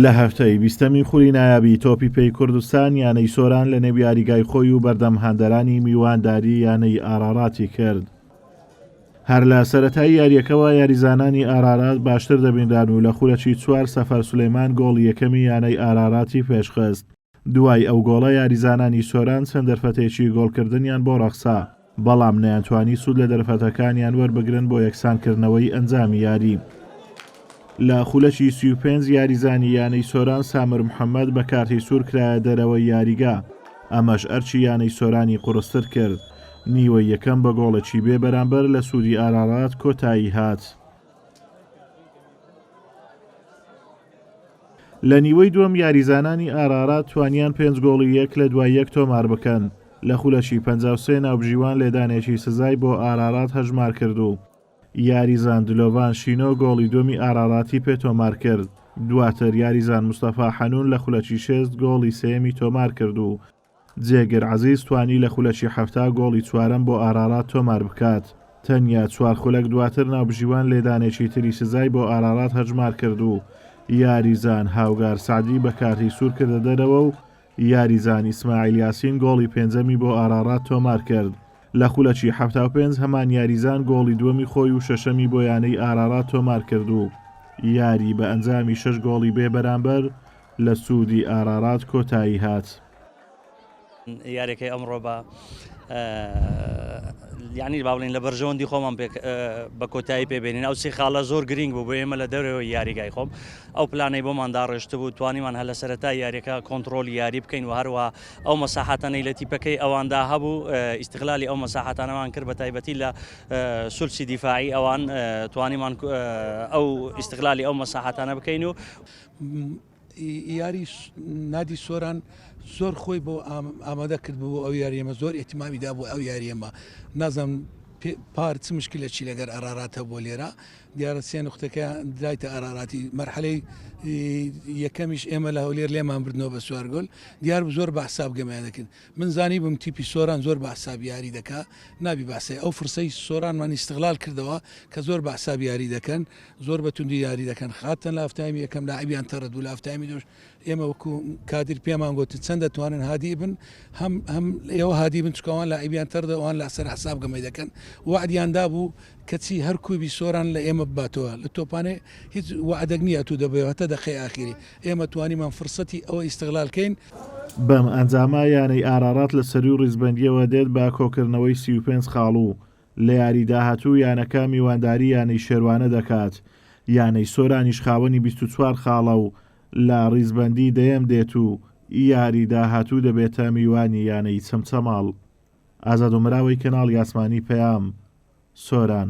لە هەفتەی بیستەمی خولی نایابی تۆپی پێی کوردستان یانەی سۆران لە نێو یاریگای خۆی و بەردەم هاندەرانی میوانداری یانەی ئاراراتی کرد. هەر لە سەرەتای یاریەکەوە یاریزانانی ئارارات باشتر دەبینران و لە خولەکی چوار سەفەر سولەیمان گۆڵی یەکەمی یانەی ئاراراتی پێشخست. دوای ئەو گۆڵە یاریزانانی سۆران چەند دەرفەتێکی گۆڵکردنیان بۆ ڕەخسا، بەڵام نەیانتوانی سوود لە دەرفەتەکانیان وەربگرن بۆ یەکسانکردنەوەی ئەنجامی یاری. لە خولەکی سی و پێنج یاریزانی یانەی سۆران سامر محەمەد بە کارتی سوور کرایە دەرەوەی یاریگا، ئەمەش ئەرکی یانەی سۆرانی قوڕستر کرد، نیوەی یەکەم بە گۆڵێکی بێ بەرامبەر لە سوودی ئارارات کۆتایی هات. لە نیوەی دووەم یاریزانانی ئارارات توانیان پێنج گۆڵی یەک لە دوای یەک تۆمار بکەن، لە خولەکی پەنجا و سێ ناوبژیوان لێدانێکی سزای بۆ ئارارات هەژمارکرد و یاریزان دلۆڤان شینۆ گۆڵی دووەمی ئاراراتی پێ تۆمارکرد، دواتر یاریزان مستەفا حەنون لە خولەکی شێست گۆڵی سێیەمی تۆمارکرد و جێگر عەزیز توانی لە خولەکی حەفتا گۆڵی چوارەم بۆ ئارارات تۆمار بکات، تەنیا چوار خولەک دواتر ناوبژیوان لێدانێکی تری سزای بۆ ئارارات هەژمار کرد و یاریزان هاوگار سەعدی بە کارتی سوور کردە دەرەوە و یاریزان ئیسماعیل یاسین گۆڵی پێنجەمی بۆ ئارارات تۆمار کرد. لە خولەکی حەفتا و پێنج هەمان یاریزان گۆڵی دووەمی خۆی و شەشەمی بۆ یانەی ئارارات تۆمار کرد و یاری بە ئەنجامی شەش گۆڵی بێبەرامبەر لە سوودی ئارارات کۆتایی هات. یاریەکەی ئەمڕۆ بە یانی با بڵین لە بەرژەوەندی خۆمان بە کۆتایی پێبێنین ئەو سی خاڵە زۆر گرنگ بوو بۆ ئێمە لە دەرەوەی یاریگای خۆم ئەو پلانەی بۆمان داڕێشت بوو توانیمان هەلە سەرەتا یاریەکە کۆنتترۆل یاری بکەین و هەروە ئەو مەساحاتانەی لە تیپەکەی ئەواندا هەبوو ئیسیغلالی ئەو مەساحاتانەوان کرد بە تایبەتی لە سولسی دیفاعی ئەوان توانیمان ئەو ئیسیغلالی ئەو مەساحاتانە بکەین و یاری نادی سۆران زۆر خۆی بۆ ئامادە کرد بۆ ئەو یاریمە زۆر ئحتیمامی دا بۆ ئەو یاریەمە نازم پار چ مشکی لە چی لەگەر ئەراراتە بۆ لێرە دیارە سێ نقطەکە درایتە ئاراراتی مەرحەلەی یەکەمیش ئێمە لە هەولێر لێمان بردنەوە بە سوارگۆل دیار زۆر بە حساب گەمیان دەکرد من زانیبم تیپی سۆران زۆر بە عساب یاری دەکا نابی باسێ ئەو فرسەی سۆران مان ئیستغلال کردەوە کە زۆر بە عساب یاری دەکەن زۆر بە توندی یاری دەکەن خاتەن لە هەفتایمی یەکەم لاعبیان تەڕد و لە هەفتایمی دوش ئێمە وەکو کادیر پێمان گوت چەند دەتوانن هادی بن هەم هەم ئێوە هادی بن چکەوان لاعبیان تەردەوان لە سەر عساب گەمەی دەکەن وعدیان دابوو کەچی هەر کوبی سۆران لە ئێمە بباتەوە لە تۆپانێ هیچ وعدەک نییە تو دەبێ هەتا دەقەی ئاخیری ئێمە توانیمان فرسەتی ئەوە ئیستغلال کەین. بەم ئەنجامە یانەی ئارارات لە سەروو ریزبەندییەوە دێت بە کۆکردنەوەی سی و پێنج خاڵو لە یاری داهاتوو یانەکە میوانداری یانەی شێروانە دەکات، یانەی سۆرانیش خاوەنی بیست و چوار خاڵە و لە ریزبەندی دەیەم دێت و یاری داهاتوو دەبێتە میوانی یانەی چەمچەماڵ. ئازادۆمراوەی کەناڵی ئاسمانی پەیام، سۆران.